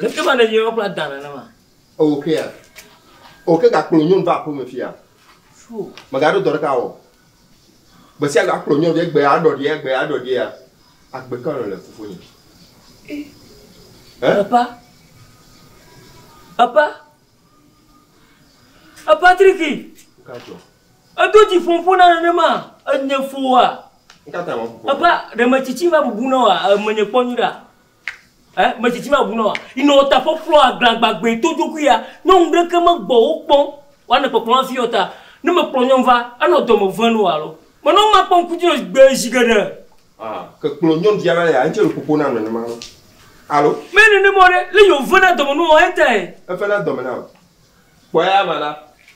Leke va nènye ƒe adã nenema? Ewò kea? O ke gakplɔ nyɔnu va aƒeme fia? Mègaɖo dɔ ɖeka wɔ. Gbe sia gbe akplɔ nyɔnu ɖe egbe aɖɔ ɖia egbe aɖɔ ɖia agbe ka nɔ le fofonye? Epa. Epa. Epa triki. Gadzɔ. Edo dzi fom fona nenema enye foa. Nkata ma fofo. Epa ɖe metsitsi va bubu nɔ wa menye kpɔ nyuɖa. Ẽ? Metsitsi mabu na wòa? Yi nɔ ta ƒɔƒlɔ agla gbagbɛ to dzoxui ya. Nyɔnu ɖeke megbɔ wo kpɔm wòa ne kpɔkplɔ hafi yɔ ta. Ne mekplɔ nyɔnu va, enɔ dɔme vem nɔ wòa alo? Menɔ ŋma kpɔ ŋkuti nɔ gbe zi geɖe. Ã, ke kplɔ nyɔnu via va ya, ŋtsɛ le ƒoƒo na nenema alo? Alo? Menye nenema o ɖe, le yi wò vena dɔme nɔ wòa ye tae. Evena dɔme nam. Kpɔ eya ma ɖa.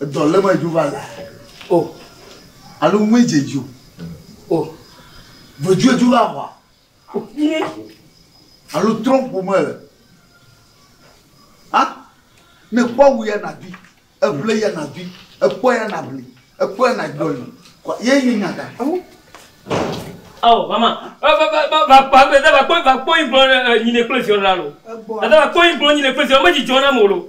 Edɔ le me dzo va la. O. Alo ŋue dze dzo. O. Vedzo edzo va hwa. O. Ye. Alo trɔm ƒome le. A. Ne kpɔ wu ya na bi. Eble ya na bi. Ekpɔ ya na bli. Ekpɔ ya na dɔli. Ye nye nya da. Ao mama, vakpɔe vakpɔe vakpɔe gblɔ nyine kple ziɔ la lo. Ada vakpɔe gblɔ nyine kple ziɔ me dzi jɔ na mo lo.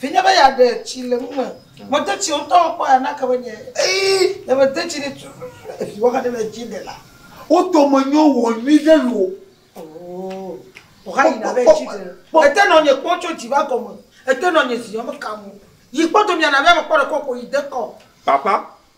Vinye be yeaɖe tsi le ŋume. Mede tsi o ŋutɔ kpɔ ya nake be nye. Eyi ne mede tsi ɖi tututu evi woxa ɖe le dzi ɖe la. Wo dome nyo wɔ nyui ɖe lo. Oo. Woxa yina be tsi ɖe. Ete nɔ nye kpɔ tso dzi va gɔme. Ete nɔ nye zi yɔ me kam o. Yi kpɔ do mia na be mekpɔ ɖe kɔkɔ yi de kɔ. Papa,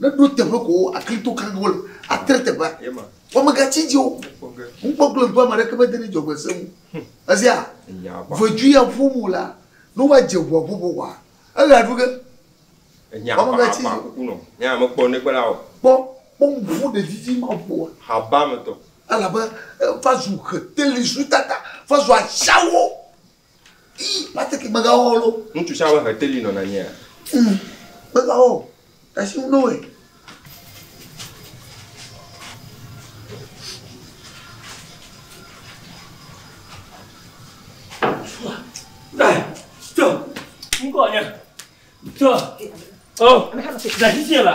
Ne ɖo teƒe ko wo akli to kan wo le atre teƒe wo me ga tsi dzi o ŋu kpɔ glo ŋu ame ɖeke me de ne dzɔgbe se ŋu ezi a vedu ya ƒo mu la ne wa dze ŋua ƒo ƒo wa ele aɖu ge wo me ga tsi dzi kuku nɔ ne ame kpɔ ne kpe la o kpɔ kpɔ mu ƒo ɖe didi ma ƒo wa haba me tɔ elabe eh, va zu heteli zu tata va zu atsiawo Patrick megawɔ lo. Ŋutsu sia ame heteli nɔ na nyea. Hmm, megawɔ. Tasi ŋu noe. Ŋkɔ nye. Tɔ. Oh, dasi sia la.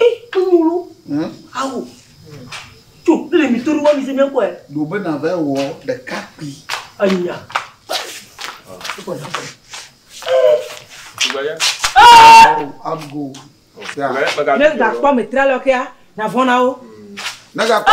Ɛ kponyolo. Hum. Awo. Tso le mi toro wa mi se mi ko ɛ. Do be na va wɔ ɖeka kpi. Anya. Gbaya. Am go. Ya. Ne ga kpɔ me tra lɔ kea na vɔn na wo. Ne ga kpɔ.